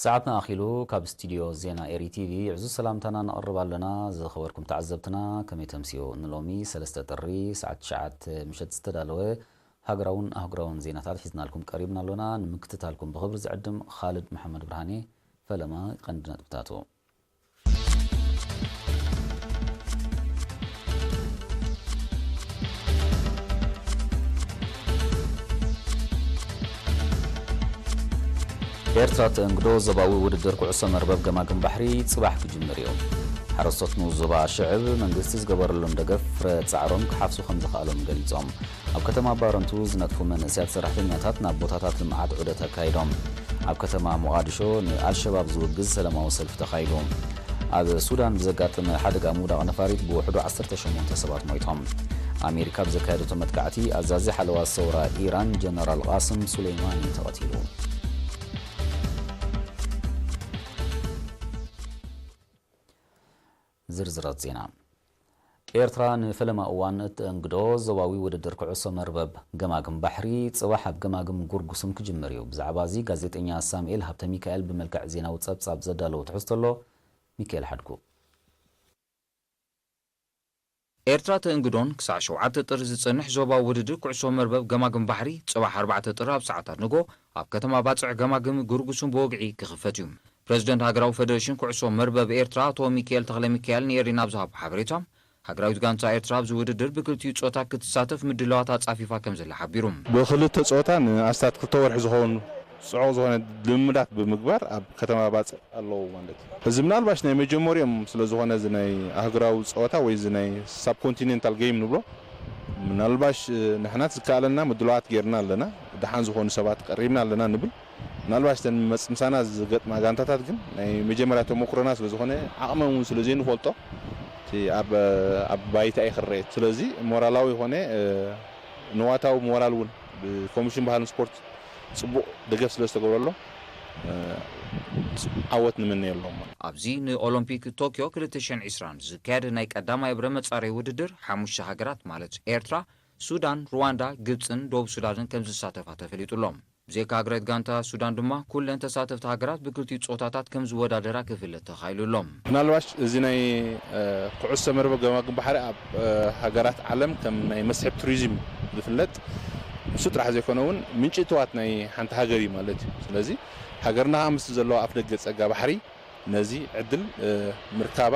ሰዓትና ኣኺሉ ካብ ስቲድዮ ዜና ኤሪ ቲቪ ዕዙዝ ሰላምታና ነቕርብ ኣለና ዝኸበርኩም ተዓዘብትና ከመይ ተምስዮ ንሎሚ ሰለስተ ጥሪ ሰዓት ትሽዓተ ምሸት ዝተዳለወ ሃገራውን ኣህጉራውን ዜናታት ሒዝናልኩም ቀሪብና ኣሎና ንምክትታልኩም ብኽብሪ ዝዕድም ኻልድ መሓመድ ብርሃኔ ፈለማ ቀንዲ ነጥብታቱ ኤርትራ ተእንግዶ ዞባዊ ውድድር ኩዕሶ መርበብ ገማግም ባሕሪ ጽባሕ ክጅምር እዩ። ሓረስቶት ንኡስ ዞባ ሽዕብ መንግስቲ ዝገበረሎም ደገፍ ፍረ ጻዕሮም ክሓፍሱ ከምዝኸኣሎም ገሊጾም። ኣብ ከተማ ባረንቱ ዝነጥፉ መንእሰያት ሰራሕተኛታት ናብ ቦታታት ልምዓት ዑደት ኣካይዶም። ኣብ ከተማ ሞቓድሾ ንኣልሸባብ ዝውግዝ ሰላማዊ ሰልፊ ተኻይዱ። ኣብ ሱዳን ብዘጋጠመ ሓደጋ ምውዳቕ ነፋሪት ብውሕዱ ዓሰርተ ሸሞንተ ሰባት ሞይቶም። ኣሜሪካ ብዘካየደቶ መጥቃዕቲ ኣዛዚ ሓለዋ ሰውራ ኢራን ጀነራል ቓስም ሱሌይማኒ ተቐቲሉ። ዝርዝራት ዜና፣ ኤርትራ ንፈለማ እዋን እተእንግዶ ዞባዊ ውድድር ኩዕሶ መርበብ ገማግም ባሕሪ ጽባሕ ኣብ ገማግም ጉርጉሱም ክጅምር እዩ። ብዛዕባ'ዚ ጋዜጠኛ ሳሙኤል ሃብተሚካኤል ብመልክዕ ዜናዊ ጸብጻብ ዘዳለዎ ትሕዝቶ ኣሎ፣ ሚኪኤል ሓድጉ። ኤርትራ ተእንግዶን ክሳዕ ሸውዓተ ጥሪ ዝጸንሕ ዞባዊ ውድድር ኩዕሶ መርበብ ገማግም ባሕሪ ጽባሕ ኣርባዕተ ጥሪ ኣብ ሰዓታት ንግሆ ኣብ ከተማ ባጽዕ ገማግም ግርጉሱም ብወግዒ ክኽፈት እዩ። ፕረዚደንት ሃገራዊ ፈደረሽን ኩዕሶ መርበብ ኤርትራ ኣቶ ሚኪኤል ተኽለሚካኤል ንኤሪና ኣብ ዝሃቦ ሓበሬታ፣ ሃገራዊት ጋንታ ኤርትራ ኣብዚ ውድድር ብክልቲኡ ጾታ ክትሳተፍ ምድላዋት ኣጻፊፋ ከምዘላ ሓቢሩ። ብክልተ ጾታ ንኣስታት ክልተ ወርሒ ዝኸውን ጽዑቕ ዝኾነ ልምምዳት ብምግባር ኣብ ከተማ ባጽዕ ኣለዉ ማለት እዩ። እዚ ምናልባሽ ናይ መጀመርኦም ስለ ዝኾነ እዚ ናይ ኣህጉራዊ ጸወታ ወይ እዚ ናይ ሳብኮንቲነንታል ገይም ንብሎ ምናልባሽ ንሕናት ዝከኣለና ምድላዋት ጌርና ኣለና፣ ደሓን ዝኾኑ ሰባት ቀሪብና ኣለና ንብል። ምናልባሽ እተን መጽ ምሳና ዝገጥማ ጋንታታት ግን ናይ መጀመርያ ተሞክሮና ስለ ዝኾነ ዓቕመን እውን ስለ ዘይንፈልጦ እቲ ኣብ ኣብ ባይታ እዩ ክረኤ። ስለዚ ሞራላዊ ኾነ ንዋታዊ ሞራል እውን ብኮሚሽን ባህልን ስፖርት ጽቡቕ ደገፍ ስለ ዝተገብረሎም ዓወት ንምነየሎም። ኣብዚ ንኦሎምፒክ ቶክዮ ክልተ ሽሕን ዕስራን ዝካየድ ናይ ቀዳማይ እብረ መጻረዪ ውድድር ሓሙሽተ ሃገራት ማለት ኤርትራ፣ ሱዳን፣ ሩዋንዳ፣ ግብጽን ደቡብ ሱዳንን ከምዝሳተፋ ተፈሊጡ'ሎ። ብዘይካ ሃገረት ጋንታ ሱዳን ድማ ኩለን ተሳተፍቲ ሃገራት ብክልቲኡ ጾታታት ከምዝወዳደራ ክፍለጥ ተኻኢሉ'ሎ። ምናልባሽ እዚ ናይ ኩዕሶ መርበብ ገማግም ባሕሪ ኣብ ሃገራት ዓለም ከም ናይ መስሕብ ቱሪዝም ዝፍለጥ ንሱ ጥራሕ ዘይኮነ እውን ምንጪ እትዋት ናይ ሓንቲ ሃገር እዩ ማለት እዩ። ስለዚ ሃገርና ከኣ ምስቲ ዘለዋ ኣፍደገ ጸጋ ባሕሪ ነዚ ዕድል ምርካባ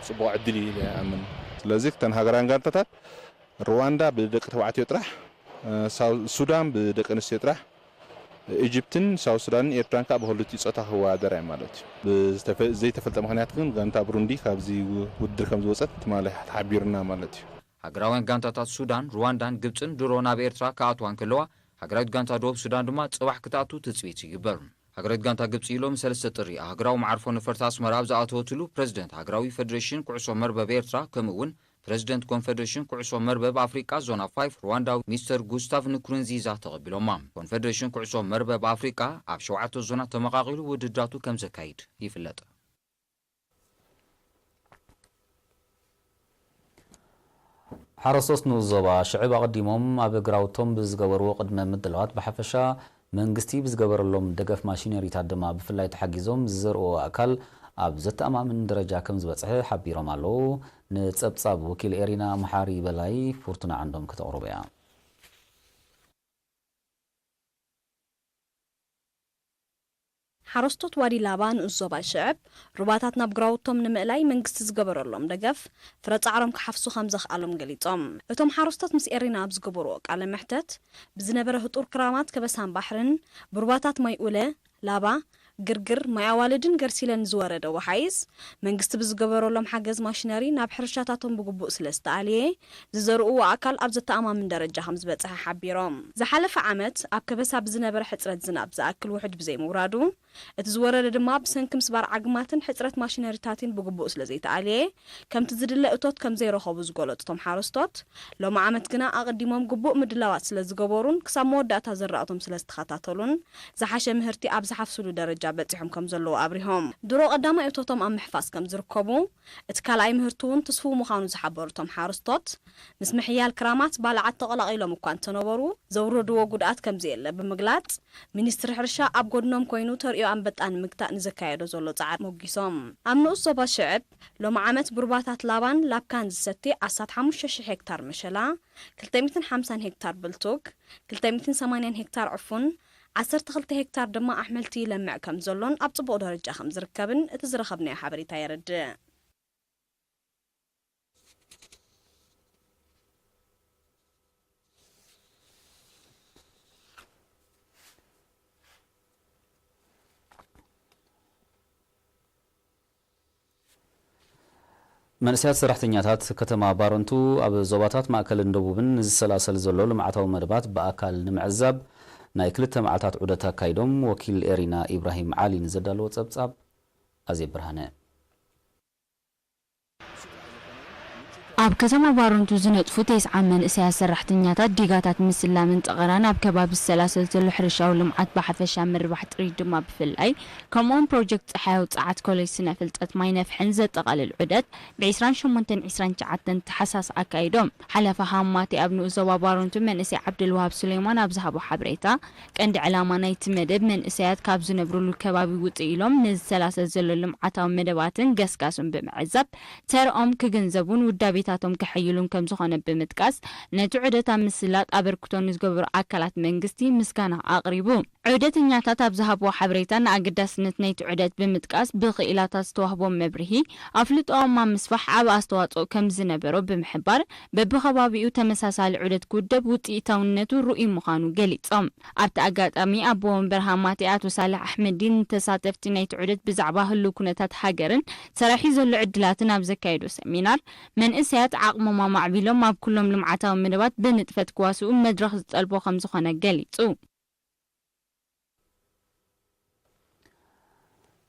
ጽቡቕ ዕድል እዩ ኢለ ኣምን። ስለዚ ክተን ሃገራውያን ጋንታታት ርዋንዳ ብደቂ ተባዕትዮ ጥራሕ፣ ሳውዝ ሱዳን ብደቂ ኣንስትዮ ጥራሕ፣ ኢጅፕትን ሳውዝ ሱዳንን ኤርትራን ከኣ ብክልቲኡ ጾታ ክወዳደራ እየን ማለት እዩ። ብዘይተፈልጠ ምኽንያት ግን ጋንታ ብሩንዲ ካብዚ ውድድር ከምዝወጸት ትማሊ ተሓቢሩና ማለት እዩ። ሃገራውያን ጋንታታት ሱዳን፣ ርዋንዳን ግብጽን ድሮ ናብ ኤርትራ ክኣትዋ እንከለዋ፣ ሃገራዊት ጋንታ ደቡብ ሱዳን ድማ ጽባሕ ክትኣቱ ትጽቢት ይግበር። ሃገራዊት ጋንታ ግብጺ ሎሚ ሰለስተ ጥሪ ኣብ ሃገራዊ መዓርፎ ነፈርቲ ኣስመራ ኣብ ዝኣተወትሉ፣ ፕረዚደንት ሃገራዊ ፈደረሽን ኩዕሶ መርበብ ኤርትራ ከምኡ'ውን ፕረዚደንት ኮንፈደሬሽን ኩዕሶ መርበብ ኣፍሪቃ ዞና ፋይፍ ርዋንዳዊ ሚስተር ጉስታቭ ንኩሩንዚዛ ተቐቢሎማ። ኮንፈደሬሽን ኩዕሶ መርበብ ኣፍሪቃ ኣብ ሸውዓተ ዞናት ተመቓቒሉ ውድድራቱ ከም ዘካይድ ይፍለጥ። ሓረስቶት ንኡስ ዞባ ሽዕብ ኣቐዲሞም ኣብ ግራውቶም ብዝገበርዎ ቅድመ ምድላዋት ብሓፈሻ መንግስቲ ብዝገበረሎም ደገፍ ማሽነሪታት ድማ ብፍላይ ተሓጊዞም ዝዘርኡዎ ኣእካል ኣብ ዘተኣማምን ደረጃ ከምዝበፅሐ ሓቢሮም ኣለው። ንፀብፃብ ወኪል ኤሪና መሓሪ በላይ ፉርቱና ዓንዶም ክተቕርቦ እያ። ሓረስቶት ዋዲ ላባ ንኡስ ዞባ ይሽዕብ ሩባታት ናብ ግራውቶም ንምእላይ መንግስቲ ዝገበረሎም ደገፍ፣ ፍረ ጻዕሮም ክሓፍሱ ከምዘኽኣሎም ገሊጾም። እቶም ሓረስቶት ምስ ኤሪና ኣብ ዝገበሩዎ ቃለ መሕተት፣ ብዝነበረ ህጡር ክራማት ከበሳን ባሕርን፣ ብሩባታት ማይ ኡለ፣ ላባ፣ ግርግር፣ ማይ ኣዋልድን ገርሲለን ንዝወረደ ወሓይዝ፣ መንግስቲ ብዝገበረሎም ሓገዝ ማሽነሪ ናብ ሕርሻታቶም ብግቡእ ስለዝተኣልየ፣ ዝዘርኡዎ ኣካል ኣብ ዘተኣማምን ደረጃ ከምዝበፀሐ ሓቢሮም። ዝሓለፈ ዓመት ኣብ ከበሳ ብዝነበረ ሕፅረት ዝናብ ዝኣክል ውሑጅ ብዘይምውራዱ እቲ ዝወረደ ድማ ብሰንኪ ምስባር ዓግማትን ሕፅረት ማሽነሪታቲን ብግቡእ ስለዘይተኣልየ ከምቲ ዝድለ እቶት ከምዘይረኸቡ ዝገለፁ እቶም ሓረስቶት ሎሚ ዓመት ግና ኣቐዲሞም ግቡእ ምድላዋት ስለዝገበሩን ክሳብ መወዳእታ ዘራእቶም ስለዝተኸታተሉን ዝሓሸ ምህርቲ ኣብ ዝሓፍሱሉ ደረጃ በፂሖም ከምዘለዉ ኣብሪሆም። ድሮ ቀዳማይ እቶቶም ኣብ ምሕፋስ ከምዝርከቡ፣ እቲ ካልኣይ ምህርቲ'ውን ትስፉው ምዃኑ ዝሓበሩ እቶም ሓረስቶት፣ ምስ ምሕያል ክራማት ባልዓት ተቐላቒሎም እኳ እንተነበሩ ዘውረድዎ ጉድኣት ከምዘየለ ብምግላጽ፣ ሚኒስትሪ ሕርሻ ኣብ ጎድኖም ኮይኑ ተርእዮ ኣንበጣ ንምግታእ ንዘካየዶ ዘሎ ጻዕሪ ሞጊሶም። ኣብ ንኡስ ዞባ ሽዕብ፣ ሎሚ ዓመት ብሩባታት ላባን ላብካን ዝሰቲ ኣስታት ሓሙሽተ ሽሕ ሄክታር መሸላ፣ ክልተ ሚእትን ሓምሳን ሄክታር ብልቱግ፣ ክልተ ሚእትን ሰማንያን ሄክታር ዕፉን፣ ዓሰርተ ክልተ ሄክታር ድማ ኣሕምልቲ ይለምዕ ከም ዘሎን ኣብ ጽቡቕ ደረጃ ከም ዝርከብን እቲ ዝረኸብናዮ ሓበሬታ የረድእ። መንእሰያት ሰራሕተኛታት ከተማ ባረንቱ ኣብ ዞባታት ማእከልን ደቡብን ንዝሰላሰል ዘሎ ልምዓታዊ መደባት ብኣካል ንምዕዛብ ናይ ክልተ መዓልታት ዑደት ኣካይዶም ወኪል ኤሪና ኢብራሂም ዓሊ ንዘዳለዎ ጸብጻብ ኣዜብ ብርሃነ። ኣብ ከተማ ባረንቱ ዝነጥፉ ቴስዓ መንእሰያት ሰራሕተኛታት ዲጋታት ምስላምን ጠቐራን ኣብ ከባቢ ዝሰላሰል ዘሎ ሕርሻዊ ልምዓት ብሓፈሻ ምርባሕ ጥሪት ድማ ብፍላይ ከምኡውን ፕሮጀክት ጸሓያዊ ጸዓት ኮሌጅ ስነ ፍልጠት ማይ ነፍሕን ዘጠቓልል ዑደት ብ ዕስራን ሸሞንተን ዕስራን ትሽዓተን ታሕሳስ ኣካይዶም። ሓላፊ ሃማቴ ኣብ ንኡስ ዞባ ባረንቱ መንእሰይ ዓብደልወሃብ ሱሌማን ኣብ ዝሃቦ ሓበሬታ ቀንዲ ዕላማ ናይቲ መደብ መንእሰያት ካብ ዝነብርሉ ከባቢ ውጽእ ኢሎም ንዝሰላሰል ዘሎ ልምዓታዊ መደባትን ገስጋሱን ብምዕዛብ ተርኦም ክግንዘቡን ውዳቤታቶም ከሐይሉን ከምዝኾነ ብምጥቃስ ነቲ ዑደት ኣብ ምስላጥ ኣበርክቶ ንዝገበሩ ኣካላት መንግስቲ ምስጋና ኣቕሪቡ። ዑደተኛታት ኣብ ዝሃብዎ ሓበሬታ ንኣገዳስነት ናይቲ ዑደት ብምጥቃስ ብክኢላታት ዝተዋህቦም መብርሂ ኣፍልጦኦም ኣብ ምስፋሕ ዓቢ ኣስተዋጽኦ ከምዝነበሮ ብምሕባር፣ በብከባቢኡ ተመሳሳሊ ዑደት ክውደብ ውፅኢታውነቱ ርኡይ ምዃኑ ገሊፆም። ኣብቲ ኣጋጣሚ ኣቦ ወንበር ሃማቴ ኣቶ ሳልሕ ኣሕመዲን ንተሳተፍቲ ናይቲ ዑደት ብዛዕባ ህልው ኩነታት ሃገርን ሰራሒ ዘሎ ዕድላትን ኣብ ዘካየዶ ሰሚናር መንእሰያት ዓቕሞም ኣማዕቢሎም ኣብ ኩሎም ልምዓታዊ መደባት ብንጥፈት ክዋስኡ መድረኽ ዝጠልቦ ከምዝኾነ ገሊፁ።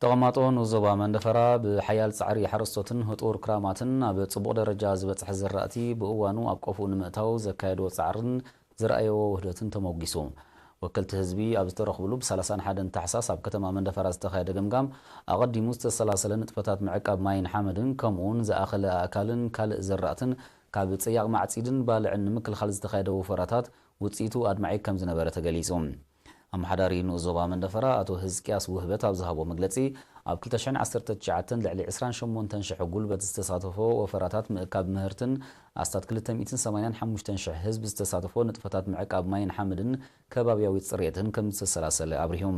ተቐማጦ ንኡስ ዞባ መንደፈራ ብሓያል ፃዕሪ ሓረስቶትን ህጡር ክራማትን ኣብ ፅቡቕ ደረጃ ዝበፅሐ ዝራእቲ ብእዋኑ ኣብ ቆፎኡ ንምእታው ዘካየድዎ ፃዕርን ዘርኣየዎ ውህደትን ተሞጒሱ። ወከልቲ ህዝቢ ኣብ ዝተረኽብሉ ብ ሰላሳን ሓደን ታሕሳስ ኣብ ከተማ መንደፈራ ዝተኻየደ ገምጋም ኣቐዲሙ ዝተሰላሰለ ንጥፈታት ምዕቃብ ማይን ሓመድን ከምኡውን ዝኣኸለ ኣእካልን ካልእ ዘራእትን ካብ ፀያቕ ማዕፂድን ባልዕን ንምክልኻል ዝተኻየደ ወፈራታት ውጽኢቱ ኣድማዒ ከም ዝነበረ ተገሊጹ። ኣመሓዳሪ ንኡስ ዞባ መንደፈራ ኣቶ ህዝቅያስ ውህበት ኣብ ዝሃቦ መግለጺ፣ ኣብ ክልተ ሽሕን ዓሰርተ ትሽዓተን ልዕሊ ዕስራን ሸሞንተን ሽሕ ጉልበት ዝተሳተፎ ወፈራታት ምእካብ ምህርትን ኣስታት ክልተ ሚእትን ሰማንያን ሓሙሽተን ሽሕ ህዝቢ ዝተሳተፎ ንጥፈታት ምዕቃብ ማይን ሓመድን ከባብያዊ ጽሬትን ከም ዝተሰላሰለ ኣብሪሁ።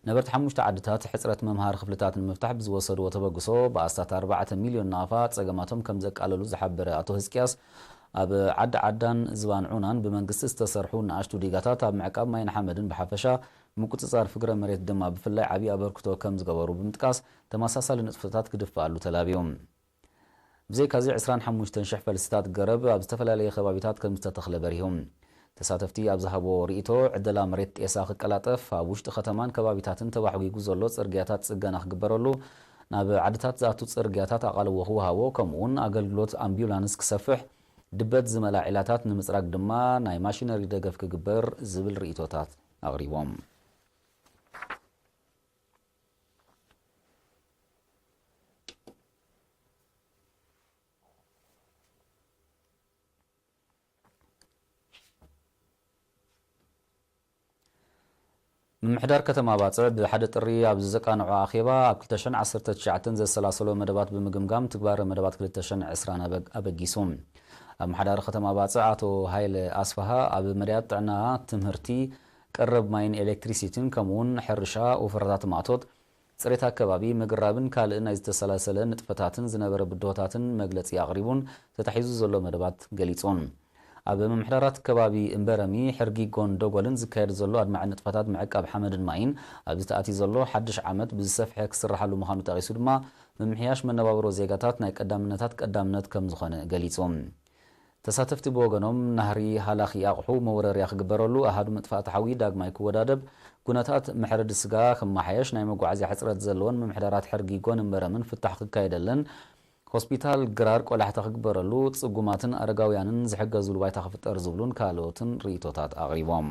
ነበርቲ ሓሙሽተ ዓድታት ሕፅረት መምሃሪ ክፍልታት ንምፍታሕ ብዝወሰድዎ ተበግሶ ብኣስታት ኣርባዕተ ሚልዮን ናቕፋ ፀገማቶም ከምዘቃለሉ ዝሓበረ ኣቶ ህዝቅያስ ኣብ ዓዲ ዓዳን ዝባን ዑናን ብመንግስቲ ዝተሰርሑ ንኣሽቱ ዲጋታት ኣብ ምዕቃብ ማይን ሓመድን ብሓፈሻ ምቁፅፃር ፍግረ መሬት ድማ ብፍላይ ዓብዪ ኣበርክቶ ከምዝገበሩ ብምጥቃስ ተመሳሳሊ ንጥፈታት ክድፈኣሉ ተላብዩ። ብዘይካዚ ዕስራን ሓሙሽተን ሽሕ ፈልስታት ገረብ ኣብ ዝተፈላለየ ከባቢታት ከምዝተተኽለ በሪሁ። ተሳተፍቲ ኣብ ዝሃብዎ ርኢቶ፣ ዕደላ መሬት ጤሳ ክቀላጠፍ፣ ኣብ ውሽጢ ከተማን ከባቢታትን ተባሕጒጉ ዘሎ ጽርግያታት ጽገና ክግበረሉ፣ ናብ ዓድታት ዝኣቱ ጽርግያታት ኣቓልቦ ክወሃቦ ከምኡ'ውን ኣገልግሎት ኣምቢዩላንስ ክሰፍሕ፣ ድበት ዝመልኣ ዒላታት ንምጽራግ ድማ ናይ ማሽነሪ ደገፍ ክግበር ዝብል ርኢቶታት ኣቕሪቦም። ምምሕዳር ከተማ ባጽዕ ብ ሓደ ጥሪ ኣብ ዘዘቃነዖ ኣኼባ ኣብ ክልተ ሽሕን ዓሰርተ ትሽዓተን ዘሰላሰሎ መደባት ብምግምጋም ትግባረ መደባት ክልተ ሽሕን ዕስራን ኣበጊሱ። ኣመሓዳሪ ከተማ ባጽዕ ኣቶ ሃይለ ኣስፍሃ ኣብ መዳያት ጥዕና፣ ትምህርቲ፣ ቀረብ ማይን ኤሌክትሪሲቲን ከምኡውን ሕርሻ፣ ወፈራታት ማእቶት፣ ጽሬት ኣከባቢ፣ ምግራብን ካልእ ናይ ዝተሰላሰለ ንጥፈታትን ዝነበረ ብድሆታትን መግለጺ ኣቕሪቡን ተታሒዙ ዘሎ መደባት ገሊጹን። ኣብ ምምሕዳራት ከባቢ እምበረሚ፣ ሕርጊጎን ደጎልን ዝካየድ ዘሎ ኣድማዒ ንጥፈታት ምዕቃብ ሓመድን ማይን ኣብዚ ተኣትዩ ዘሎ ሓድሽ ዓመት ብዝሰፍሐ ክስራሓሉ ምዃኑ ጠቒሱ ድማ ምምሕያሽ መነባብሮ ዜጋታት ናይ ቀዳምነታት ቀዳምነት ከምዝኾነ ገሊጹ። ተሳተፍቲ ብወገኖም፣ ናህሪ ሃላኺ ኣቕሑ መውረርያ ክግበረሉ፣ ኣሃዱ መጥፋእቲ ሓዊ ዳግማይ ክወዳደብ፣ ኩነታት መሕረዲ ስጋ ክመሓየሽ፣ ናይ መጓዓዝያ ሕጽረት ዘለወን ምምሕዳራት ሕርጊ ጎንን በረምን ፍታሕ ክካየደለን፣ ሆስፒታል ግራር ቆላሕታ ክግበረሉ፣ ጽጉማትን ኣረጋውያንን ዝሕገዝሉ ባይታ ክፍጠር ዝብሉን ካልኦትን ርእይቶታት ኣቕሪቦም።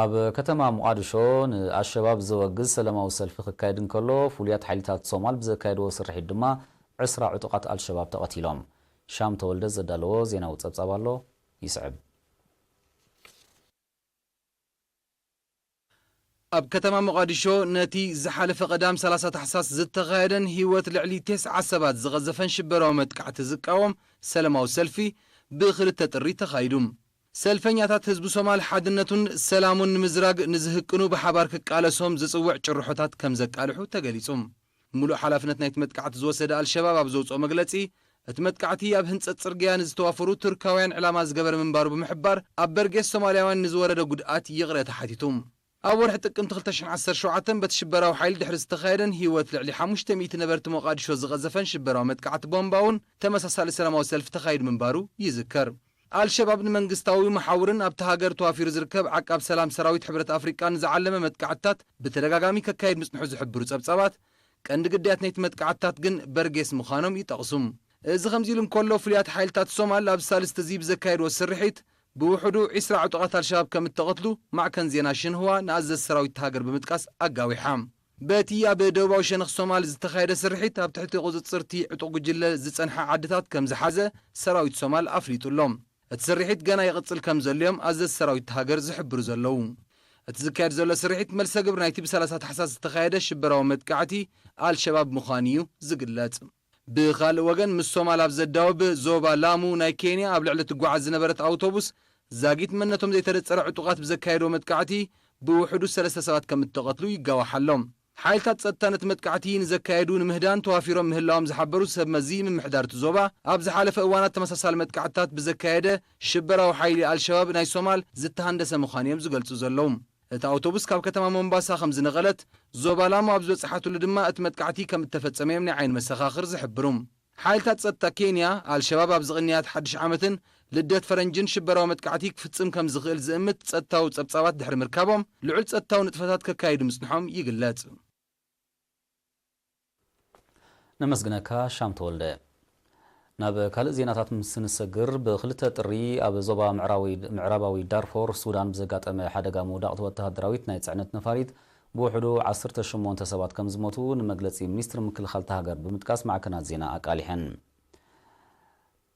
ኣብ ከተማ ሞቓድሾ ንኣልሸባብ ዘወግዝ ሰለማዊ ሰልፊ ክካየድ እንከሎ፣ ፍሉያት ሓይሊታት ሶማል ብዘካየድዎ ስርሒት ድማ ዕስራ ዕጡቓት ኣልሸባብ ተቐቲሎም። ሻም ተወልደ ዘዳለዎ ዜናዊ ጸብጻብ ኣሎ፣ ይስዕብ። ኣብ ከተማ ሞቓዲሾ ነቲ ዝሓለፈ ቀዳም ሰላሳ ታሕሳስ ዝተኻየደን ህይወት ልዕሊ ቴስዓ ሰባት ዝቐዘፈን ሽበራዊ መጥቃዕቲ ዝቃወም ሰለማዊ ሰልፊ ብ ክልተ ጥሪ ተኻይዱ። ሰልፈኛታት ህዝቢ ሶማል ሓድነቱን ሰላሙን ንምዝራግ ንዝህቅኑ ብሓባር ክቃለሶም ዝጽውዕ ጭርሖታት ከምዘቃልሑ ተገሊጹ። ሙሉእ ሓላፍነት ናይቲ መጥቃዕቲ ዝወሰደ ኣልሸባብ ኣብ ዘውፅኦ መግለፂ፣ እቲ መጥቃዕቲ ኣብ ህንፀት ፅርግያ ንዝተዋፈሩ ቱርካውያን ዕላማ ዝገበረ ምንባሩ ብምሕባር ኣብ በርጌስ ሶማሊያውያን ንዝወረደ ጉድኣት ይቕሬታ ሓቲቱ። ኣብ ወርሒ ጥቅምቲ ክልተ ሽሕ ዓሰርተ ሸውዓተ በቲ ሽበራዊ ሓይሊ ድሕሪ ዝተኻየደን ህይወት ልዕሊ ሓሙሽተ ሚእቲ ነበርቲ ሞቓድሾ ዝቐዘፈን ሽበራዊ መጥቃዕቲ ቦምባ እውን ተመሳሳሊ ሰላማዊ ሰልፊ ተኻይዱ ምንባሩ ይዝከር። ኣልሸባብ ንመንግስታዊ መሓውርን ኣብታ ሃገር ተዋፊሩ ዝርከብ ዓቃብ ሰላም ሰራዊት ሕብረት ኣፍሪቃን ዝዓለመ መጥቃዕትታት ብተደጋጋሚ ከካይድ ምጽንሑ ዝሕብሩ ጸብጻባት፣ ቀንዲ ግዳያት ናይቲ መጥቃዕትታት ግን በርጌስ ምዃኖም ይጠቕሱ። እዚ ከምዚ'ሉ እንከሎ፣ ፍሉያት ሓይልታት ሶማል ኣብ ሳልስቲ'ዚ ብዘካየድዎ ስርሒት፣ ብውሕዱ ዕስራ ዕጡቓት ኣልሸባብ ከምእተቐትሉ ማዕከን ዜና ሽንህዋ ንኣዘዝቲ ሰራዊት'ታ ሃገር ብምጥቃስ ኣጋዊሓ። በቲ ኣብ ደቡባዊ ሸነኽ ሶማል ዝተኻየደ ስርሒት ኣብ ትሕቲ ቁጽጽርቲ ዕጡቕ ጉጅለ ዝጸንሓ ዓድታት ከም ዝሓዘ ሰራዊት ሶማል ኣፍሊጡ ኣሎ። እቲ ስርሒት ገና ይቕጽል ከም ዘሎ'ዮም ኣዘዝቲ ሰራዊት እታ ሃገር ዝሕብሩ ዘለዉ። እቲ ዝካየድ ዘሎ ስርሒት መልሰ ግብሪ ናይቲ ብ ሰላሳ ታሕሳስ ዝተኻየደ ሽበራዊ መጥቃዕቲ ኣልሸባብ ምዃኑ'ዩ ዝግለጽ። ብኻልእ ወገን ምስ ሶማል ኣብ ዘዳውብ ዞባ ላሙ ናይ ኬንያ ኣብ ልዕሊ ትጓዓዝ ዝነበረት ኣውቶቡስ ዛጊት መንነቶም ዘይተነጸረ ዕጡቓት ብዘካየድዎ መጥቃዕቲ ብውሕዱ ሰለስተ ሰባት ከም እተቐትሉ ይጋዋሕ ኣሎ። ሓይልታት ጸጥታ ነቲ መጥቃዕቲ ንዘካየዱ ንምህዳን ተዋፊሮም ምህላዎም ዝሓበሩ ሰብ መዚ ምምሕዳር እቲ ዞባ፣ ኣብ ዝሓለፈ እዋናት ተመሳሳሊ መጥቃዕትታት ብዘካየደ ሽበራዊ ሓይሊ ኣልሸባብ ናይ ሶማል ዝተሃንደሰ ምዃኑ'ዮም ዝገልጹ ዘለዉ። እታ ኣውቶቡስ ካብ ከተማ ሞምባሳ ከም ዝነቐለት፣ ዞባ ላሙ ኣብ ዝበጽሓትሉ ድማ እቲ መጥቃዕቲ ከም እተፈጸመ'ዮም ናይ ዓይኒ መሰኻኽር ዝሕብሩ። ሓይልታት ጸጥታ ኬንያ፣ ኣልሸባብ ኣብዚ ቕንያት ሓድሽ ዓመትን ልደት ፈረንጅን ሽበራዊ መጥቃዕቲ ክፍጽም ከም ዝኽእል ዝእምት ጸጥታዊ ጸብጻባት ድሕሪ ምርካቦም፣ ልዑል ጸጥታዊ ንጥፈታት ከካይዱ ምጽንሖም ይግለጽ። ነመስግነካ ሻም ተወልደ። ናብ ካልእ ዜናታት ምስ እንሰግር፣ ብ ክልተ ጥሪ ኣብ ዞባ ምዕራባዊ ዳርፎር ሱዳን ብዘጋጠመ ሓደጋ ምውዳቕቲ ወተሃደራዊት ናይ ጽዕነት ነፋሪት ብውሕዱ ዓሰርተ ሸሞንተ ሰባት ከም ዝሞቱ ንመግለጺ ሚኒስትሪ ምክልኻል'ታ ሃገር ብምጥቃስ ማዕከናት ዜና ኣቃሊሐን።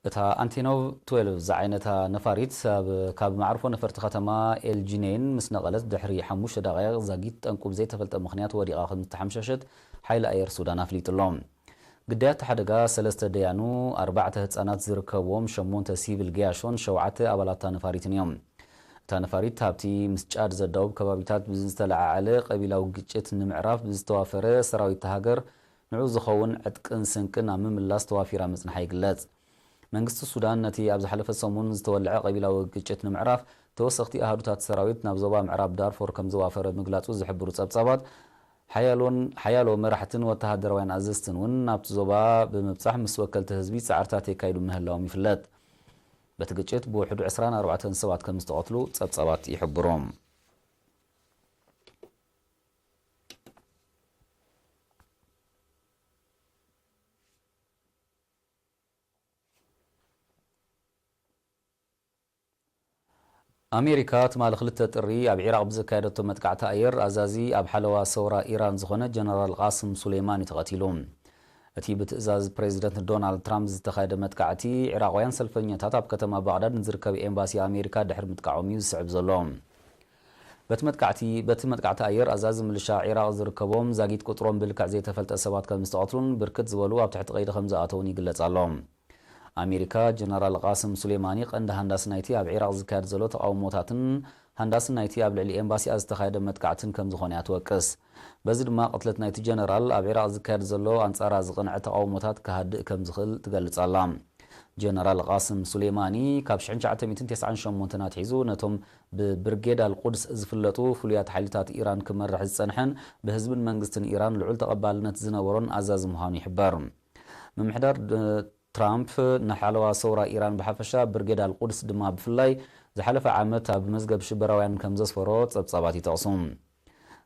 እታ ኣንቴኖቭ ትዌልቭ ዝዓይነታ ነፋሪት ኣብ ካብ መዓርፎ ነፈርቲ ከተማ ኤል ጂነይን ምስ ነቐለት ድሕሪ ሓሙሽተ ደቓይቕ ዛጊት ጠንቁ ብዘይተፈልጠ ምኽንያት ወዲቓ ከምዝተሓምሸሸት ሓይሊ ኣየር ሱዳን ኣፍሊጡ'ሎ። ግዳያት እቲ ሓደጋ ሰለስተ ደያኑ፣ ኣርባዕተ ህጻናት ዝርከብዎም ሸሞንተ ሲቪል ገያሾን ሸውዓተ ኣባላት እታ ነፋሪትን እዮም። እታ ነፋሪት ኣብቲ ምስ ጫድ ዘዳውብ ከባቢታት ብዝተለዓዓለ ቀቢላዊ ግጭት ንምዕራፍ ብዝተዋፈረ ሰራዊት እታ ሃገር ንዕኡ ዝኸውን ዕጥቅን ስንቅን ኣብ ምምላስ ተዋፊራ ምጽንሓ ይግለጽ። መንግስቲ ሱዳን ነቲ ኣብ ዝሓለፈ ሰሙን ዝተወልዐ ቀቢላዊ ግጭት ንምዕራፍ ተወሰኽቲ ኣሃዱታት ሰራዊት ናብ ዞባ ምዕራብ ዳርፎር ከምዘዋፈረ ምግላጹ ዝሕብሩ ጸብጻባት ሓያሎን ሓያሎ መራሕትን ወተሃደራውያን ኣዘዝትን እውን ናብቲ ዞባ ብምብጻሕ ምስ ወከልቲ ህዝቢ ጻዕርታት የካይዱ ምህላዎም ይፍለጥ። በቲ ግጭት ብውሕዱ ዕስራን ኣርባዕተን ሰባት ከምዝተቐትሉ ጸብጻባት ይሕብሩ። ኣሜሪካ ትማሊ ክልተ ጥሪ ኣብ ዒራቕ ብዘካየደቶ መጥቃዕቲ ኣየር ኣዛዚ ኣብ ሓለዋ ሰውራ ኢራን ዝኾነ ጀነራል ቓስም ሱሌማኒ ተቐቲሉ። እቲ ብትእዛዝ ፕሬዝደንት ዶናልድ ትራምፕ ዝተኻየደ መጥቃዕቲ ዒራቕውያን ሰልፈኛታት ኣብ ከተማ ባቕዳድ ንዝርከብ ኤምባሲ ኣሜሪካ ድሕሪ ምጥቃዖም እዩ ዝስዕብ ዘሎ። በቲ መጥቃዕቲ በቲ መጥቃዕቲ ኣየር ኣዛዚ ምልሻ ዒራቕ ዝርከቦም ዛጊት ቁጽሮም ብልክዕ ዘይተፈልጠ ሰባት ከምዝተቐትሉን ብርክት ዝበሉ ኣብ ትሕቲ ቀይዲ ከምዝኣተዉን ይግለጽ ኣሎ። ኣሜሪካ፣ ጀነራል ቓስም ሱሌማኒ ቀንዲ ሃንዳሲ ናይቲ ኣብ ዒራቕ ዝካየድ ዘሎ ተቓውሞታትን ሃንዳሲ ናይቲ ኣብ ልዕሊ ኤምባሲኣ ዝተኻየደ መጥቃዕትን ከምዝኾነ'ያ ትወቅስ። በዚ ድማ ቅትለት ናይቲ ጀነራል ኣብ ዒራቕ ዝካየድ ዘሎ ኣንጻራ ዝቕንዐ ተቓውሞታት ክሃድእ ከምዝኽእል ትገልጽ ኣላ። ጀነራል ቓስም ሱሌማኒ ካብ ሽሕን ትሽዓተ ሚእትን ተስዓን ሸሞንተን ኣትሒዙ ነቶም ብብርጌድ ኣልቁድስ ዝፍለጡ ፍሉያት ሓይልታት ኢራን ክመርሕ ዝጸንሐን ብህዝብን መንግስትን ኢራን ልዑል ተቐባልነት ዝነበሮን ኣዛዚ ምዃኑ ይሕበር። ምምሕዳር ትራምፕ ንሓለዋ ሰውራ ኢራን ብሓፈሻ ብርጌድ ኣልቁድስ ድማ ብፍላይ ዝሓለፈ ዓመት ኣብ መዝገብ ሽበራውያን ከምዘስፈሮ ጸብጻባት ይጠቕሱ።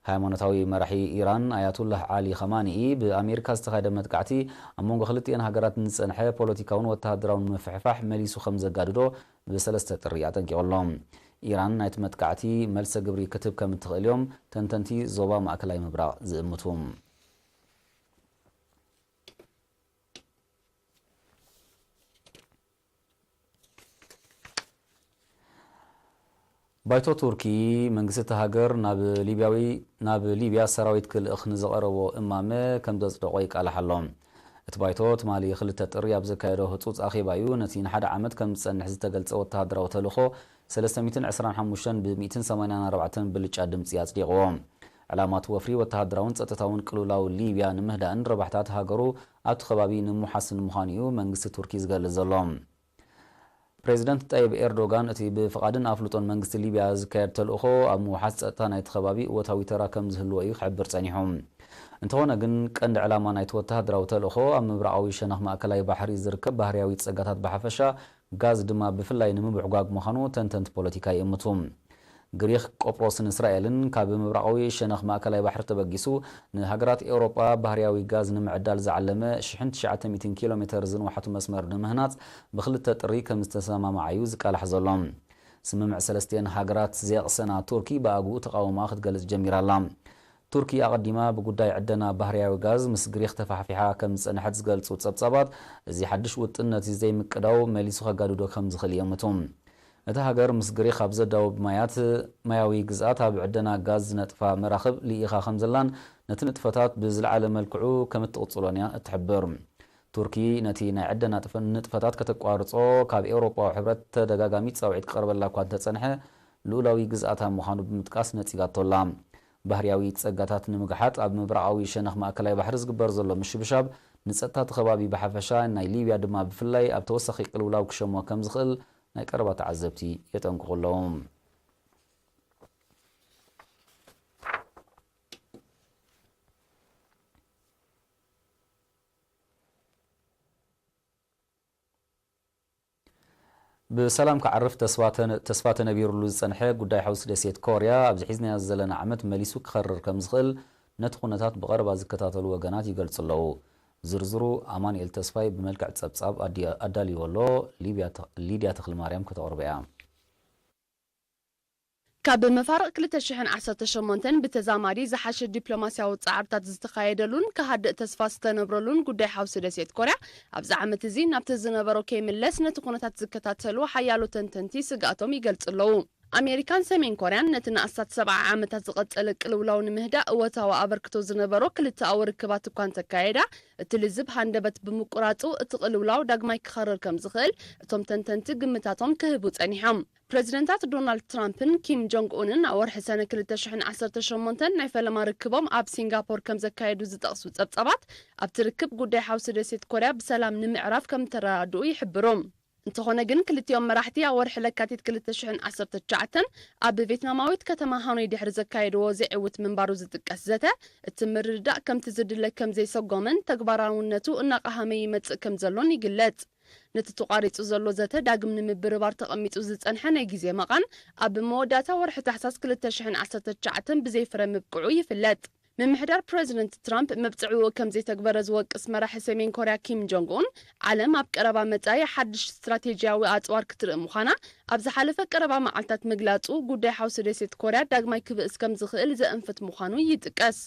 ሃይማኖታዊ መራሒ ኢራን ኣያቱላህ ዓሊ ኸማኒኢ ብኣሜሪካ ዝተኻየደ መጥቃዕቲ ኣብ መንጎ ክልቲኤን ሃገራት ንዝጸንሐ ፖለቲካውን ወተሃደራውን ምፍሕፋሕ መሊሱ ከምዘጋድዶ ብሰለስተ ጥሪ ኣጠንቂቑ ኣሎ። ኢራን ናይቲ መጥቃዕቲ መልሰ ግብሪ ክትህብ ከምትኽእል'ዮም ተንተንቲ ዞባ ማእከላይ ምብራቕ ዝእምቱ። ባይቶ ቱርኪ፣ መንግስቲ'ታ ሃገር ናብ ሊብያ ሰራዊት ክልእኽ ንዝቐረቦ እማመ ከምዘጽደቖ ይቃላሕ ኣሎ። እቲ ባይቶ፣ ትማሊ ክልተ ጥሪ ኣብ ዘካየዶ ህጹጽ ኣኼባ'ዩ ነቲ ንሓደ ዓመት ከምዝጸንሕ ዝተገልጸ ወተሃደራዊ ተልእኾ ሰለስተ ሚእትን ዕስራን ሓሙሽተን ብ ሚእትን ሰማንያን ኣርባዕተን ብልጫ ድምጺ ኣጽዲቕዎ። ዕላማ'ቲ ወፍሪ፣ ወተሃደራውን ጸጥታውን ቅልውላው ሊብያ ንምህዳእን ረብሓታት ሃገሩ ኣብቲ ከባቢ ንሙሓስን ምዃኑ'ዩ መንግስቲ ቱርኪ ዝገልጽ ዘሎ። ፕረዚደንት ጠይብ ኤርዶጋን እቲ ብፍቓድን ኣፍልጦን መንግስቲ ሊብያ ዝካየድ ተልእኾ፣ ኣብ ምውሓስ ጸጥታ ናይቲ ከባቢ እወታዊ ተራ ከም ዝህልዎ'ዩ ክሕብር ጸኒሑ። እንተኾነ ግን ቀንዲ ዕላማ ናይቲ ወተሃደራዊ ተልእኾ፣ ኣብ ምብራቓዊ ሸነኽ ማእከላይ ባሕሪ ዝርከብ ባህርያዊ ጸጋታት ብሓፈሻ፣ ጋዝ ድማ ብፍላይ ንምብሕጓግ ምዃኑ ተንተንቲ ፖለቲካ ይእምቱ። ግሪኽ፣ ቆጵሮስን እስራኤልን ካብ ምብራቓዊ ሸነኽ ማእከላይ ባሕሪ ተበጊሱ ንሃገራት ኤውሮጳ ባህርያዊ ጋዝ ንምዕዳል ዝዓለመ ሽሕን ትሽዓተ ሚእትን ኪሎ ሜተር ዝንውሓቱ መስመር ንምህናጽ ብክልተ ጥሪ ከም ዝተሰማምዓ'ዩ ዝቃላሕ ዘሎ። ስምምዕ ሰለስቲኤን ሃገራት ዘየቕሰና ቱርኪ ብኣግኡ ተቓውሞኣ ክትገልጽ ጀሚራ ኣላ። ቱርኪ ኣቐዲማ ብጉዳይ ዕደና ባህርያዊ ጋዝ ምስ ግሪኽ ተፋሕፊሓ ከም ዝጸንሐት ዝገልጹ ጸብጻባት፣ እዚ ሓድሽ ውጥን ነቲ ዘይምቅዳው መሊሱ ከጋድዶ ከም ዝኽእል ይእምቱ። እታ ሃገር ምስ ግሪኽ ኣብ ዘዳውብ ማያት ማያዊ ግዝኣት ኣብ ዕደና ጋዝ ዝነጥፋ መራኽብ ልኢኻ ከም ዘላን ነቲ ንጥፈታት ብዝለዓለ መልክዑ ከም እትቕጽሎን እያ እትሕብር። ቱርኪ ነቲ ናይ ዕደና ንጥፈታት ከተቋርጾ ካብ ኤውሮጳዊ ሕብረት ተደጋጋሚ ጻውዒት ክቐርበላ እኳ እንተጸንሐ፣ ልኡላዊ ግዝኣታ ምዃኑ ብምጥቃስ ነጺጋቶ ኣላ። ባህርያዊ ጸጋታት ንምግሓጥ ኣብ ምብራቓዊ ሸነኽ ማእከላይ ባሕሪ ዝግበር ዘሎ ምሽብሻብ፣ ንጸጥታ እቲ ከባቢ ብሓፈሻ፣ ናይ ሊብያ ድማ ብፍላይ ኣብ ተወሳኺ ቅልውላው ክሸሞ ከም ዝኽእል ናይ ቀረባ ተዓዘብቲ የጠንቅቑ ኣለዉ። ብሰላም ክዓርፍ ተስፋ ተነቢሩሉ ዝጸንሐ ጉዳይ ሓውሲ ደሴት ኮርያ፣ ኣብዚ ሒዝናዮ ዘለና ዓመት መሊሱ ክኸርር ከምዝኽእል ነቲ ኩነታት ብቐረባ ዝከታተሉ ወገናት ይገልጹ ኣለዉ። ዝርዝሩ ኣማኑኤል ተስፋይ ብመልክዕ ጸብጻብ ኣዳልይዎ ኣሎ፣ ሊድያ ተኽልማርያም ከተቕርቦ'ያ። ካብ መፋርቕ ክልተ ሽሕን ዓሰርተ ሸሞንተን ብተዛማዲ ዝሓሸ ዲፕሎማስያዊ ጻዕርታት ዝተኻየደሉን ክሃድእ ተስፋ ዝተነብረሉን ጉዳይ ሓውሲ ደሴት ኮርያ ኣብዚ ዓመት እዚ ናብቲ ዝነበሮ ከይምለስ ነቲ ኩነታት ዝከታተሉ ሓያሎ ተንተንቲ ስግኣቶም ይገልጹ ኣለዉ። ኣሜሪካን ሰሜን ኮርያን ነቲ ንኣስታት ሰብዓ ዓመታት ዝቐጸለ ቅልውላው ንምህዳእ እወታዊ ኣበርክቶ ዝነበሮ ክልተኣዊ ርክባት እኳ እንተካየዳ እቲ ልዝብ ሃንደበት ብምቁራጹ እቲ ቅልውላው ዳግማይ ክኸርር ከምዝኽእል እቶም ተንተንቲ ግምታቶም ክህቡ ጸኒሖም ፕረዚደንታት ዶናልድ ትራምፕን ኪም ጆንግ ኡንን ኣብ ወርሒ ሰነ ክልተ ሽሕን ዓሰርተ ሸሞንተን ናይ ፈለማ ርክቦም ኣብ ሲንጋፖር ከም ዘካየዱ ዝጠቕሱ ጸብጻባት፣ ኣብቲ ርክብ ጉዳይ ሓውሲ ደሴት ኮርያ ብሰላም ንምዕራፍ ከም እተረዳድኡ ይሕብሩ። እንተዀነ ግን ክልቲኦም መራሕቲ ኣብ ወርሒ ለካቲት ክልተ ሽሕን ዓሰርተ ትሽዓተን ኣብ ቬትናማዊት ከተማ ሃኖይ ድሕሪ ዘካየድዎ ዘይዕዉት ምንባሩ ዝጥቀስ ዘተ፣ እቲ ምርድዳእ ከምቲ ዝድለ ከም ዘይሰጐመን ተግባራውነቱ እናቐሃመ ይመጽእ ከም ዘሎን ይግለጽ። ነቲ ተቋሪጹ ዘሎ ዘተ ዳግም ንምብርባር ተቐሚጡ ዝጸንሐ ናይ ግዜ መቓን ኣብ መወዳእታ ወርሒ ታሕሳስ ክልተ ሽሕን ዓሰርተ ትሽዓተን ብዘይ ፍረ ምብቅዑ ይፍለጥ። ምምሕዳር ፕረዚደንት ትራምፕ መብጽዕኡ ከም ዘይተግበረ ዝወቅስ መራሒ ሰሜን ኮርያ ኪም ጆንግ ኡን፣ ዓለም ኣብ ቀረባ መጻኢ ሓድሽ ስትራቴጂያዊ ኣጽዋር ክትርኢ ምዃና ኣብ ዝሓለፈ ቀረባ መዓልታት ምግላጹ፣ ጉዳይ ሓውሲ ደሴት ኮርያ ዳግማይ ክብእስ ከም ዝኽእል ዘእንፍት ምዃኑ ይጥቀስ።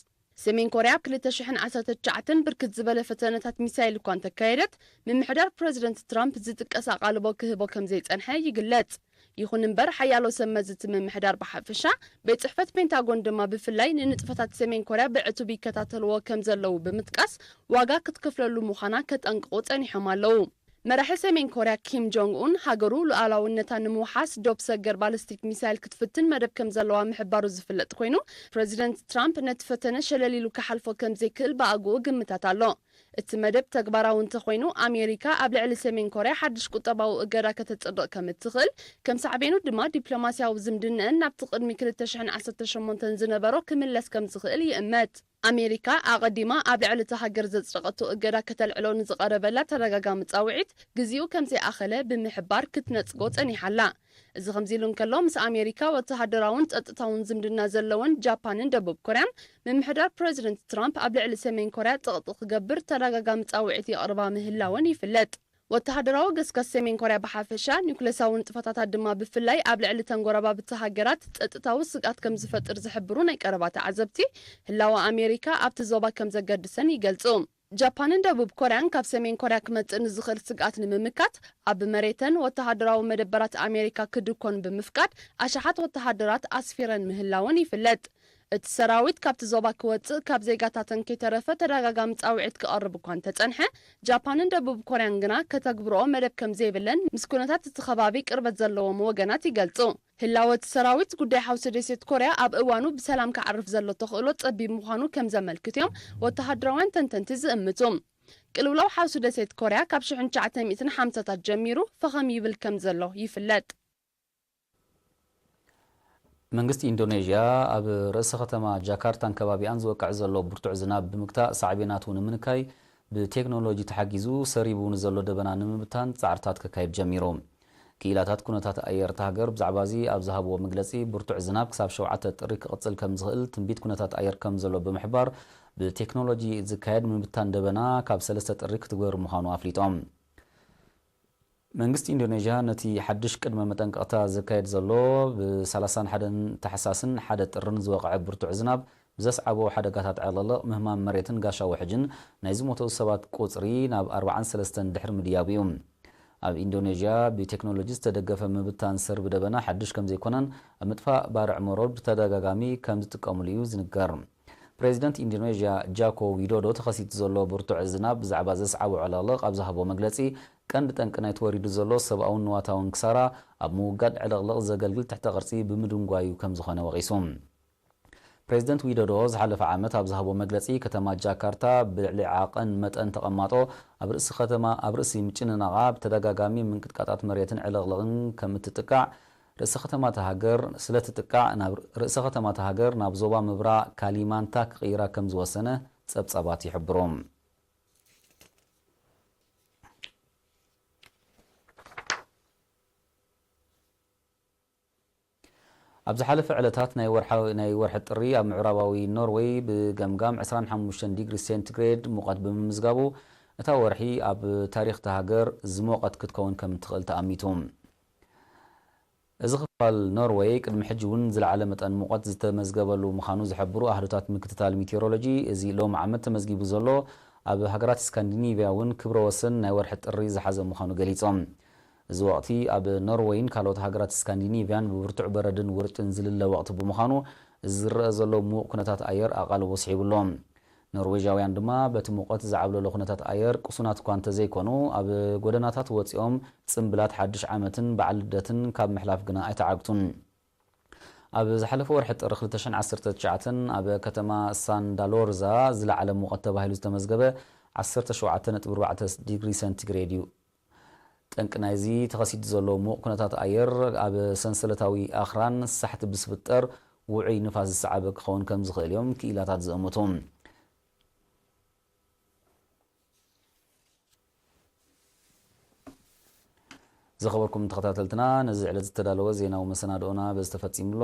ሰሜን ኮርያ ኣብ ክልተ ሽሕን ዓሰርተ ትሽዓተን ብርክት ዝበለ ፈተነታት ሚሳይል እኳ እንተካየደት፣ ምምሕዳር ፕረዚደንት ትራምፕ ዝጥቀስ ኣቓልቦ ክህቦ ከምዘይጸንሐ ይግለጽ። ይኹን እምበር ሓያሎ ሰብ መዚ እቲ ምምሕዳር ብሓፈሻ፣ ቤት ጽሕፈት ፔንታጎን ድማ ብፍላይ ንንጥፈታት ሰሜን ኮርያ ብዕቱብ ይከታተልዎ ከምዘለዉ ብምጥቃስ ዋጋ ክትከፍለሉ ምዃና ከጠንቅቑ ጸኒሖም ኣለዉ። መራሒ ሰሜን ኮርያ ኪም ጆንግ ኡን፣ ሃገሩ ሉኣላውነታ ንምውሓስ ዶብ ሰገር ባለስቲክ ሚሳይል ክትፍትን መደብ ከምዘለዋ ምሕባሩ ዝፍለጥ ኮይኑ፣ ፕረዚደንት ትራምፕ ነቲ ፈተነ ሸለል ኢሉ ክሓልፎ ከምዘይክእል ብኣግኡ ግምታት ኣሎ። እቲ መደብ ተግባራዊ እንተኾይኑ፣ ኣሜሪካ ኣብ ልዕሊ ሰሜን ኮርያ ሓድሽ ቁጠባዊ እገዳ ከተጽድቕ ከምእትኽእል፣ ከም ሳዕቤኑ ድማ ዲፕሎማስያዊ ዝምድነኣን ናብቲ ቅድሚ ክልተ ሽሕን ዓሰርተ ሸሞንተን ዝነበሮ ክምለስ ከምዝኽእል ይእመት። ኣሜሪካ ኣቐዲማ ኣብ ልዕሊ እታ ሃገር ዘጽደቐቶ እገዳ ከተልዕሎ ንዝቐረበላ ተደጋጋሚ ጻውዒት ግዜኡ ከም ዘይኣኸለ ብምሕባር ክትነጽጎ ጸኒሓ ኣላ። እዚ ከምዚ'ሉ እንከሎ፣ ምስ ኣሜሪካ ወተሃደራውን ጸጥታውን ዝምድና ዘለወን ጃፓንን ደቡብ ኮርያን፣ ምምሕዳር ፕረዚደንት ትራምፕ ኣብ ልዕሊ ሰሜን ኮርያ ጸቕጢ ክገብር ተደጋጋሚ ጻውዒት የቕርባ ምህላወን ይፍለጥ። ወተሃደራዊ ገስጋስ ሰሜን ኮርያ ብሓፈሻ፣ ኒዩክለሳዊ ንጥፈታታ ድማ ብፍላይ ኣብ ልዕሊ እተን ጐረባብቲ ሃገራት ጸጥታዊ ስግኣት ከም ዝፈጥር ዝሕብሩ ናይ ቀረባ ተዓዘብቲ፣ ህላወ ኣሜሪካ ኣብቲ ዞባ ከም ዘገድሰን ይገልጹ። ጃፓንን ደቡብ ኮርያን ካብ ሰሜን ኮርያ ክመጽእ ንዝኽእል ስግኣት ንምምካት፣ ኣብ መሬተን ወተሃደራዊ መደበራት ኣሜሪካ ክድኰን ብምፍቃድ ኣሽሓት ወተሃደራት ኣስፊረን ምህላወን ይፍለጥ። እቲ ሰራዊት ካብቲ ዞባ ክወጽእ ካብ ዜጋታተን ከይተረፈ ተደጋጋሚ ጻውዒት ክቐርብ እኳ እንተጸንሐ፣ ጃፓንን ደቡብ ኮርያን ግና ከተግብርኦ መደብ ከም ዘይብለን ምስ ኩነታት እቲ ከባቢ ቅርበት ዘለዎም ወገናት ይገልጹ። ህላወ እቲ ሰራዊት፣ ጉዳይ ሓውሲ ደሴት ኮርያ ኣብ እዋኑ ብሰላም ክዓርፍ ዘሎ ተኽእሎ ጸቢብ ምዃኑ ከም ዘመልክት'ዮም ወተሃደራውያን ተንተንቲ ዝእምቱ። ቅልውላው ሓውሲ ደሴት ኮርያ ካብ ሽሕን ትሽዓተ ሚእትን ሓምሳታት ጀሚሩ ፈኸም ይብል ከም ዘሎ ይፍለጥ። መንግስቲ ኢንዶነዥያ ኣብ ርእሰ ከተማ ጃካርታን ከባቢኣን ዝወቅዕ ዘሎ ብርቱዕ ዝናብ ብምግታእ ሳዕቤናቱ ንምንካይ ብቴክኖሎጂ ተሓጊዙ ሰሪቡ ንዘሎ ደበና ንምብታን ፃዕርታት ከካይድ ጀሚሩ። ክኢላታት ኩነታት ኣየር እታ ሃገር ብዛዕባ'ዚ ኣብ ዝሃብዎ መግለፂ ብርቱዕ ዝናብ ክሳብ ሸውዓተ ጥሪ ክቕፅል ከምዝኽእል ትንቢት ኩነታት ኣየር ከምዘሎ ብምሕባር ብቴክኖሎጂ ዝካየድ ምብታን ደበና ካብ ሰለስተ ጥሪ ክትግበር ምዃኑ ኣፍሊጦም። መንግስቲ ኢንዶነዥያ ነቲ ሓድሽ ቅድመ መጠንቀቕታ ዘካይድ ዘሎ ብ ሰላሳን ሓደን ታሕሳስን ሓደ ጥርን ዝወቕዐ ብርቱዕ ዝናብ ብዘስዓቦ ሓደጋታት ዕልቕልቕ፣ ምህማም መሬትን ጋሻ ውሕጅን ናይ ዝሞተው ሰባት ቁጽሪ ናብ ኣርብዓን ሰለስተን ድሕሪ ምድያቡ እዩ። ኣብ ኢንዶነዥያ ብቴክኖሎጂ ዝተደገፈ ምብታን ሰርቢ ደበና ሓድሽ ከምዘይኮነን ኣብ ምጥፋእ ባርዕ መሮር ብተደጋጋሚ ከምዝጥቀምሉ እዩ ዝንገር። ፕሬዚደንት ኢንዶኔዥያ ጃኮ ዊዶዶ ተኸሲቱ ዘሎ ብርቱዕ ዝናብ ብዛዕባ ዘስዓቦ ዕልቕልቕ ኣብ ዝሃቦ መግለፂ ቀንዲ ጠንቂ ናይቲ ወሪዱ ዘሎ ሰብኣውን ንዋታውን ክሳራ ኣብ ምውጋድ ዕልቕልቕ ዘገልግል ትሕተ ቅርፂ ብምድንጓዩ ከምዝኾነ ወቒሱ። ፕሬዚደንት ዊዶዶ ዝሓለፈ ዓመት ኣብ ዝሃቦ መግለፂ ከተማ ጃካርታ ብልዕሊ ዓቐን መጠን ተቐማጦ ኣብ ርእሲ ከተማ ኣብ ርእሲ ምጭንናቓ ብተደጋጋሚ ምንቅጥቃጣት መሬትን ዕልቕልቕን ከምእትጥቃዕ ርእሰ ከተማ እታ ሃገር ስለትጥቃዕ ናብ ርእሰ ከተማ እታ ሃገር ናብ ዞባ ምብራ ካሊማንታ ክቕይራ ከም ዝወሰነ ጸብጻባት ይሕብሩ። ኣብ ዝሓለፈ ዕለታት ናይ ወርሓዊ ናይ ወርሒ ጥሪ ኣብ ምዕራባዊ ኖርወይ ብገምጋም ዕስራን ሓሙሽተን ዲግሪ ሴንቲግሬድ ሙቐት ብምምዝጋቡ እታ ወርሒ ኣብ ታሪኽ እታ ሃገር ዝሞቐት ክትከውን ከም እትኽእል ተኣሚቱ። እዚ ክፋል ኖርወይ ቅድሚ ሕጂ እውን ዝለዓለ መጠን ሙቐት ዝተመዝገበሉ ምዃኑ ዝሕብሩ ኣሃዱታት ምክትታል ሚቲዮሮሎጂ፣ እዚ ሎሚ ዓመት ተመዝጊቡ ዘሎ ኣብ ሃገራት ስካንዲኒቭያ እውን ክብረ ወሰን ናይ ወርሒ ጥሪ ዝሓዘ ምዃኑ ገሊጾም። እዚ ወቕቲ ኣብ ኖርወይን ካልኦት ሃገራት ስካንዲኒቭያን ብብርቱዕ በረድን ውርጭን ዝልለ ወቕቲ ብምዃኑ እዚ ዝረኣ ዘሎ ምዉቕ ኩነታት ኣየር ኣቓልቦ ስሒቡ'ሎ። ኖርዌዣውያን ድማ በቲ ሙቐት ዝዓብለሎ ኩነታት ኣየር ቅሱናት'ኳ እንተዘይኮኑ ኣብ ጎደናታት ወጺኦም ጽምብላት ሓድሽ ዓመትን በዓል ልደትን ካብ ምሕላፍ ግና ኣይተዓግቱን። ኣብ ዝሓለፈ ወርሒ ጥሪ ክልተ ሽሕን ዓሰርተ ትሽዓተን ኣብ ከተማ ሳንዳሎርዛ ዝለዓለ ሙቐት ተባሂሉ ዝተመዝገበ ዓሰርተ ሸውዓተ ነጥቢ ኣርባዕተ ዲግሪ ሰንቲግሬድ'ዩ። ጠንቂ ናይዚ ተኸሲቱ ዘሎ ምዉቕ ኩነታት ኣየር፣ ኣብ ሰንሰለታዊ ኣኽራን ሳሕቲ ብዝፍጠር ውዑይ ንፋስ ዝሰዓበ ክኸውን ከም ዝኽእል እዮም ክኢላታት ዝእምቱ። ዝኸበርኩም ተኸታተልትና፣ ነዚ ዕለት ዝተዳለወ ዜናዊ መሰናድኦና በዚ ተፈጺሙ ኣሎ።